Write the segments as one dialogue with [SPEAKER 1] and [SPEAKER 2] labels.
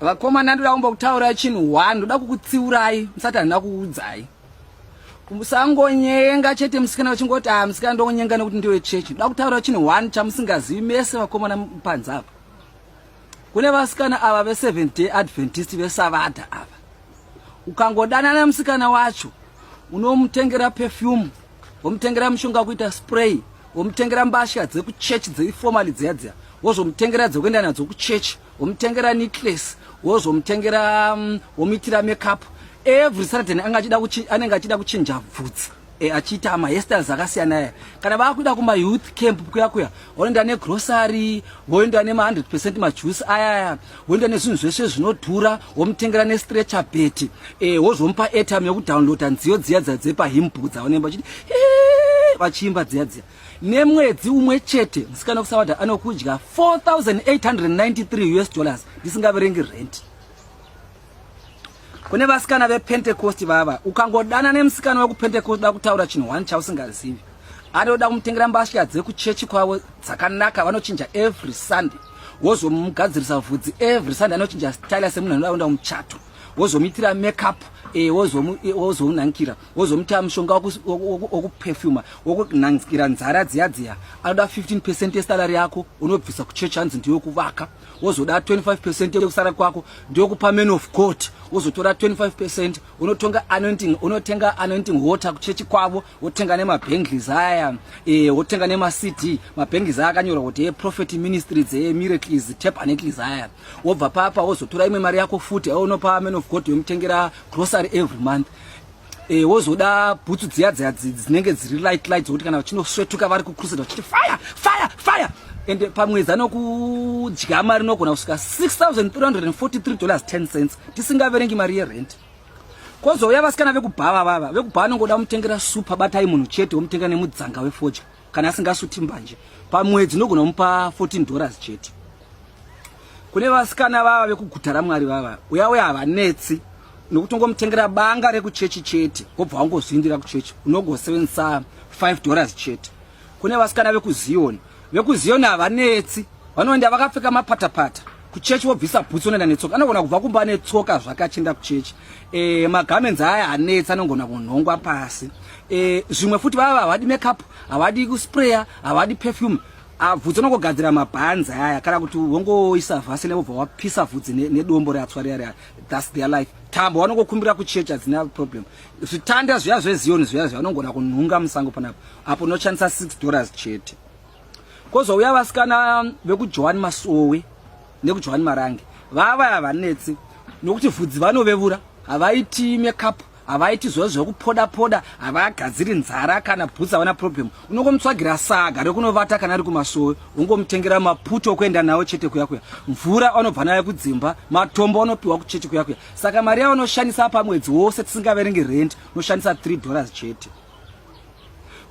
[SPEAKER 1] Vakomana ndoda kumbokutaura chinhu one ndoda kukutsiurai musati handina kuudzai. Musangonyenga chete musikana vachingoti ah musikana ndonyenga nekuti ndiwe chechi. Ndoda kutaura chinhu one chamusingazivi mese vakomana panzi apa. Kune vasikana ava ve Seventh Day Adventist vesavadha ava. Ukangodanana musikana wacho unomutengera perfume womutengera mushonga wekuita spray womutengera mbatya dzekuchechi dzeifomali dziya dziya wozomutengera dzekuenda nadzo kuchechi womutengera necklace wozomutengera mm, womuitira makeup every saturday anenge achida kuchinja bvudzi e, achiita mahairstyles akasiyana aya kana vakuda kumayouth camp kuya kuya voenda negrocery voenda nema 100 percent majuice ayaya woenda nezvinhu zvese zvinodhura womutengera nestretcher peti eh, wozomupa airtime yokudownloada nziyo dziya dza dzepahimpu dzaonemba vachiti vachiimba dziya dziya nemwedzi umwe chete musikana kusawada anokudya 4893 us dollars ndisingaverengi rent kune vasikana vepentekosti vava ukangodana nemusikana wekupentekosti da kutaura chinhu one chausingazivi anoda kumutengera mbatya dzekuchechi kwavo dzakanaka vanochinja every sunday wozomugadzirisa vhudzi every sunday anochinja style semunhu anoda kuenda kumuchato wozomuitira makeup eh, eh, wozomunankira wozomuitira mushonga wokupefuma wokunankira nzara dziya dziya anoda 15 percent yesalary yako unobvisa kuchechi hanzi ndiyo kuvaka wozoda 25 percent yekusara kwako ndokupa man of court wozotora 25 percent unotonga anointing unotenga anointing water kuchechi kwavo wotenga nemabangles aya eh, wotenga nemacd mabangles aya akanyorwa kuti eprofet ministry dzemiracles tabernacle aya wobva papa wozotora imwe mari yako futi aunopa man of court yomutengera grocery every month eh, wozoda bhutsu dziya dziya dzinenge dziri light light dzokuti kana vachinosvetuka vari kucrusade vachiti fire fire fire ende pamwedzi anokudya mari inogona kusvika 6343 dollars 10 cents tisingaverengi mari yerent kozouya vasikana vekubhava vava vekubhava anongoda mutengera supa batai munhu chete womutengera nemudzanga wefodya kana asingasuti mbanje pamwedzi unogona kumupa 14 dollars chete kune vasikana vava vekuguta ramwari vava uya uya havanetsi nokuti ungomutengera banga rekuchechi chete wobva wangozviindira kuchechi unogosevenzisa 5 dollars chete kune vasikana vekuziyoni vekuziyoni havanetsi vanoenda vakapfeka mapatapata kuchechi wobvisa bhutsu unoenda netsoka anogona kubva kumba ane tsoka zvake achienda kuchechi e, eh, magamenzi aya anetsi anogona kunhongwa pasi e, zvimwe futi vava havadi makeup havadi kusprayer havadi perfume ah, vhudzi unongogadzira mabhanzi aya kana kuti wongoisa vhasi nevobva wapisa vhudzi nedombo reatswa riya riya thats their life tambo wanongokumbira kuchechi hadzina problem zvitanda zviya zveziyoni zviya zviya unongona kunhunga musango panapa apo unoshandisa six dollars chete kozouya vasikana vekujohani masowe nekujohani marange vava havanetsi nokuti vhudzi vanovevura havaiti mekapu havaiti zvo zvekupoda poda havagadziri nzara kana bhutsi havana problem unongomutsvagira saga rekunovata kana ari kumasowe ungomutengera maputo okuenda nawo chete kuya kuya mvura anobva nayo kudzimba matombo anopiwa kuchechi kuya kuya saka mari yavanoshandisa pamwedzi wose tisingaverengi rent unoshandisa 3 dollars chete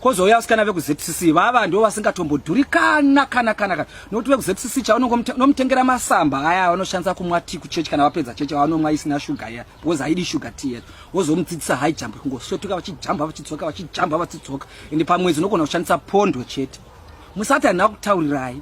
[SPEAKER 1] kozouya vasikana vekuzcc vava ndo vasingatombodhuri kana kana kana kana nokuti vekuzcc chaunongomutengera masamba aya vanoshandisa kumwa ti kuchechi kana vapedza chechi vanomwa isina shuga iya because haidi shuga ti yeto wozomudzidzisa high jump kungosvetuka vachijamba vachidzoka vachijamba vachidzoka ende pamwedzi unogona kushandisa pondo chete musati handina kutaurirai